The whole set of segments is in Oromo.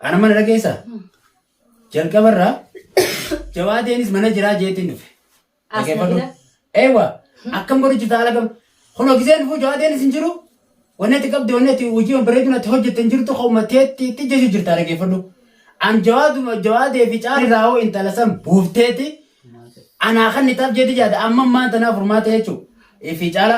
Ana mana dhageessa? Jalqabarraa jawaadeenis mana jiraa jeetiin dhufe. As na Dhageeffadhu. bira. Eewa akkam godhu jirta ala qabdu. Kunoo giseen dhufuu jawaadeenis hin jiru. Wanni ati qabdu wanni ati hojii waan bareeduun ati hojjette hin jirtu qoma teetti itti jechu jirta dhageeffadhu. An jawaaduma jawaadee fi caala irraa hoo intala san buufteeti. Anaa kan ni taaf jeeti jaada amma maanta naa furmaata jechuudha. Fi caala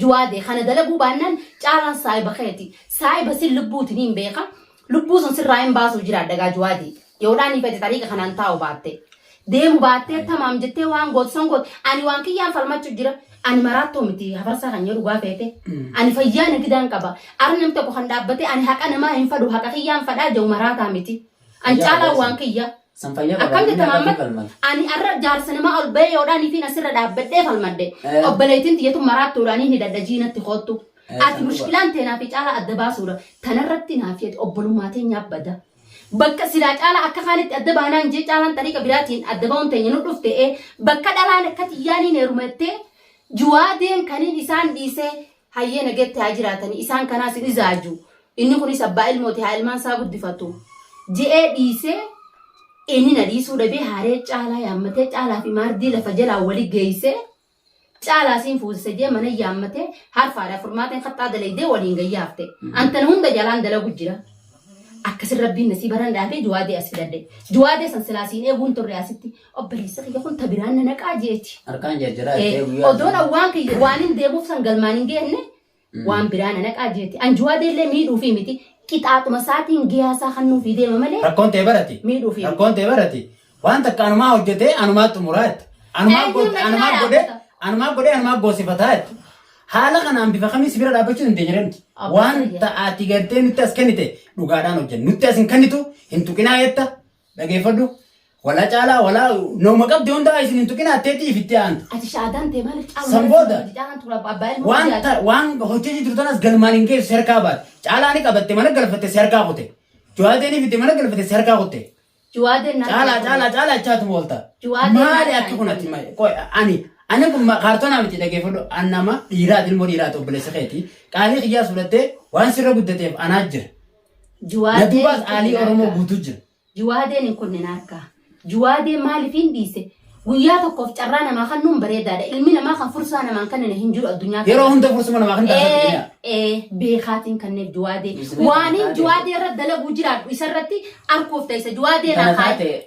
Juwaade kana dalaguu baannaan caalaan saahiba keeti. Saahiba sin lubbuutiin hin beeka. Lubbuu san sirraa hin baasuu jiraadha gaa Juwaade. Yoodhaa ni fedhe xariiqa kanaan taa'u baatte. Deemu baattee tamaam jettee waan gootu san gootu. Ani waan kiyyaan falmachu jira. Ani maraattoo miti hafarsaa kan yoo dhugaa feete. Ani fayyaa nagidaan qaba. Arra namni tokko kan dhaabbatee ani haqa namaa hin fadhu haqa kiyyaan fadhaa jedhu maraataa miti. An caalaa waan kiyya. San fayyaa Akkam qabaadha. jetta Inni Mahammad? akka falmatu. Ani arra jaarsa namaa ol ba'ee yoodhaan ifiin asirra dhaabbadhee falmadde. Eh. Obboleettiin tiyyatu maraattuudhaan hin hidhadha jii natti koottu. Eh, Ati san mushkilaan teenaa fi caalaa adda baasuudha. Tanarratti naaf yaadi obbolummaa teenyaaf bada. Bakka silaa caalaa akka kaanitti adda baanaan jee caalaan xariiqa biraatiin adda ba'uun teenya nu dhufte ee bakka dhalaan akka xiyyaaniin heerumattee juwaadeen kaniin isaan dhiisee hayyee nageetti haa jiraatanii isaan kanaas hin izaaju. Inni kunis abbaa ilmooti haa ilmaan isaa guddifatu je'ee dhiisee inni na dhiisuu dhabee haaree caalaa yaammatee caalaa fi maardii lafa jalaa wali geeysee caalaa siin fuusisa jee mana yaammatee harfaadha furmaateen kaxxaa dalaydee waliin gayyaafte antana hunda jalaan dalagu jira akkasin rabbiin nasii baran dhaafee juwaadee as fidadhe juwaadee san silaa siin eeguun turre asitti obboleessa kiyya kun tabiraan na naqaa jeeti Harkaan jarjaraa ee ittee guyyaa odoon awwaan kiyya waanin deemuuf san galmaan hin geenne waan biraa na naqaa jeeti. An Juwaadeellee miidhuufii miti qixaaxuma isaatiin giyaa isaa hannuufii deema malee Rakkoon tee barati. miidhuufii miti. Rakkoon tee barati. Waan takka anumaa hojjetee anumaa xumuraa jette. Anumaa Eenyuun godhe macinaa anumaa godhe dhaabbata? anumaa godhe anumaa goosifataa jette. Haala kanaan bifa kamiin si bira dhaabbachuu dandeenya ree nuti. Abbaa Waan fayyaa. ta'aati gartee nutti as kennite dhugaadhaan hojjenna. Nutti as hin kennitu hin tuqinaa jetta Dhageeffadhu. Walaa caalaa walaa nooma qabdi hundaa isin hin tuqina atteetii ifitti aantu. Ati shaadaan ta'e maaliif caalaa San booda. Caalaan tura abbaa ilmoo Waan jaati. ta- waan hojjete jirtu tanas galmaan hin geessu si harkaa baate. Caalaa ni qabatte mana galfatte si harkaa kute. Jawaadeen ifite mana galfatte si harkaa kutte. Jawaadeen na Caalaa harkaa caalaa caalaa achaatu moolta. Jawaadeen Maali harkaa akka hin kun ati qabne. ma- qoy ani ani kun ma- kaartoonaa miti dhageeffadhu an nama dhiiraati ilmoo dhiiraati obboleessa keeti. Qaalii kiyyaa sudhattee waan sirra guddateef anaa jira. Na Juwaadeen duubaas hin aalii kunnin Oromoo harkaa. guutuu jira. Juwaadeen hin kunnin harkaa. Juwaadeen maaliif hin dhiise? Guyyaa tokkoof carraa namaa kennuun bareedaadha. Ilmi namaa kan fursaa namaan kennine hin jiru addunyaa kana. Yeroo hunda fursuma namaa kan taasisu Ee, duniyaa. ee, beekaatiin kanneef juwaadee. Bismillah, Waaniin taatee. juwaadee irra dalaguu jiraadhu isarratti arkuuf ta'isa. Juwaadee Kana naa kaayi. taate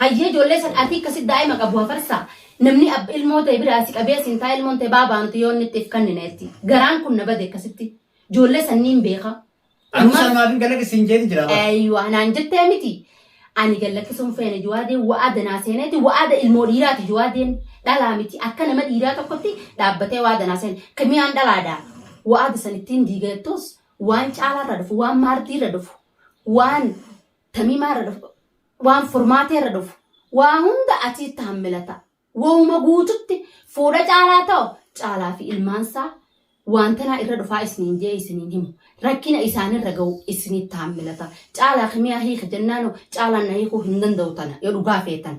Hayyee ijoollee san atii akkasi daa'ima qabu hafarsaa namni ab ilmoo ta'e bira asi qabee asiin taa ilmoon ta'e baabaa nuti yoo inni itti if kannina jetti. Garaan kun na bade akkasitti. Ijoollee san niin beeka. Anu Amma san maafin galak sin jeeti jira bar. aywa naan jettee miti. Ani gallakkisuun feene jawaadeen wa'aada naa seeneeti wa'aada ilmoo dhiiraati jawaadeen dhalaa miti akka nama dhiiraa tokkotti dhaabbatee wa'aada naa seene. Kimiyaan dhalaadha. Wa'aada san ittiin diigattus waan caalaarra dhufu waan maardiirra dhufu waan tamimaa irra dhufu waan furmaatee irra dhufu waa hunda achiitti hammilata wauma guututti fuudha caalaa ta'u caalaa fi ilmaansaa waantanaa irra dhufaa isiniin jee isiniin himu rakkina isaanirra ga'u isinitti hammilata caalaa kimiyaa hiika jennaanu caalaan na hiikuu hin danda'u tana yoo dhugaa feetan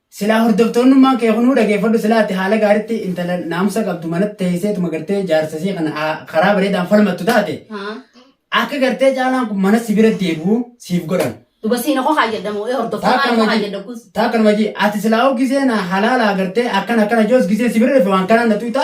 Silaa hordoftoonnummaan kee kunuu dhageeffadhu silaa ati haala gaaritti intala naamusa qabdu manatti teesseetuma gartee jaarsa isii kana haa- karaa bareedaan falmattu taate Haa. akka gartee caalaan kun mana si bira deebi'u siif godhan. Duba siina koo haayyadha moo ee hordoftoota Taakka koo nama haayyadha jii. kus. Taakka nama jii. Ati silaa hoo giseen halaala gartee akkana akkana joos giseen si bira dhufe waan kanaan natu ita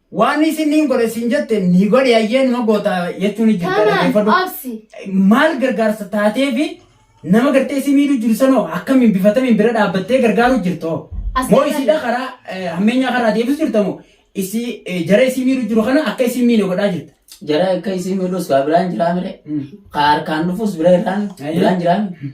Waan isin niin godhe siin jette nii godhe ayyee numa goota jechuun ni jirta Tamaan dhaggeeffadhu. obsi. Maal gargaarsa taatee fi nama gartee si miidhuu jiru sanoo akkamiin bifatamiin bira dhaabbattee gargaaruu jirtoo? As Moo gargaarra. isiidha karaa eh, hammeenyaa karaa deebisu jirta moo isii eh, jara isii miidhuu jiru kana akka isiin miine godhaa jirta? Jara akka isiin miidhus kaa biraan jiraa mire. Kaa harkaan dhufus bira irraan Ayyee. biraan jiraa mire.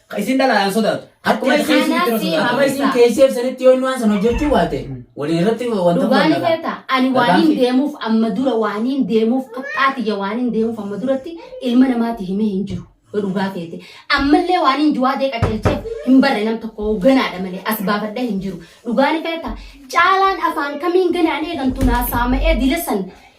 Ka isin dhalaayaan sodaatu. Akkuma Itti isin kanaatti sinitti rasu. Akkuma isin keesseef sanitti yoo inni waan sana hojjechuu baate waliin irratti wanta Dhugaa ni feeta. Ani Ragaan waaniin fi- deemuuf amma dura waaniin deemuuf qophaa tiyya waaniin deemuuf amma duratti ilma namaatti himee hin jiru. Yoo dhugaa feete. Ammallee waaniin juwaadee qajeelcheef hin barre nam tokko ganaadha malee as baafadhee hin jiru. Dhugaa ni feeta. Caalaan afaan kamiin ganaan eegantu naa saama'ee dilesan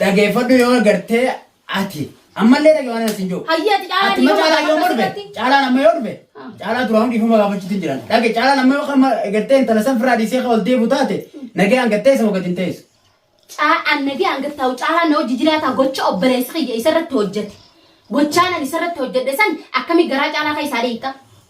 Dhageeffadhu yoo agartee ati ammallee dhage waan asiin jiru. Hayyee ati caalaa Ati ma caalaa yoo morbe caalaan amma yoo dhufe caalaa duraan hundi fuma gaafachuutti hin jiran. Dhage caalaan amma yoo kan agartee intala san firaa dhiisee kan ol deebu taate nagee hangattee isa wagati hin teessu. Caalaan nagee hangattaa'u caalaan na hojii jiraataa gocha obboleessa kiyya isarratti hojjete. Gochaan ani isarratti hojjedhe san akkamii garaa caalaa kan isaa dheeyxa.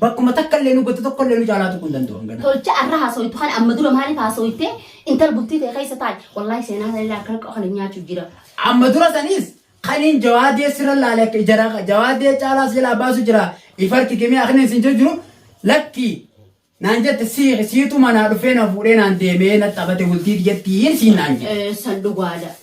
Bakkuma takka illee nu gotte tokko illee nu caalaa tuquu hin danda'u hanga nama. Tolcha arra haasoytu kana amma dura maaliif haasoyte intal bultii ta'e keessa taa'e wallaahi seenaa sana illee harka kana nyaachuu jira. Amma dura sanis kaniin jawaadee sirra laale akka ijaraa ka jawaadee caalaa si jalaa baasu jira ifarki kimee akneen sin jiru jiru lakki naan jette sii siitu manaa dhufee na fuudhee naan deemee na xabate bultiiti jettiin siin naan jette. Eh, San dhugaadha.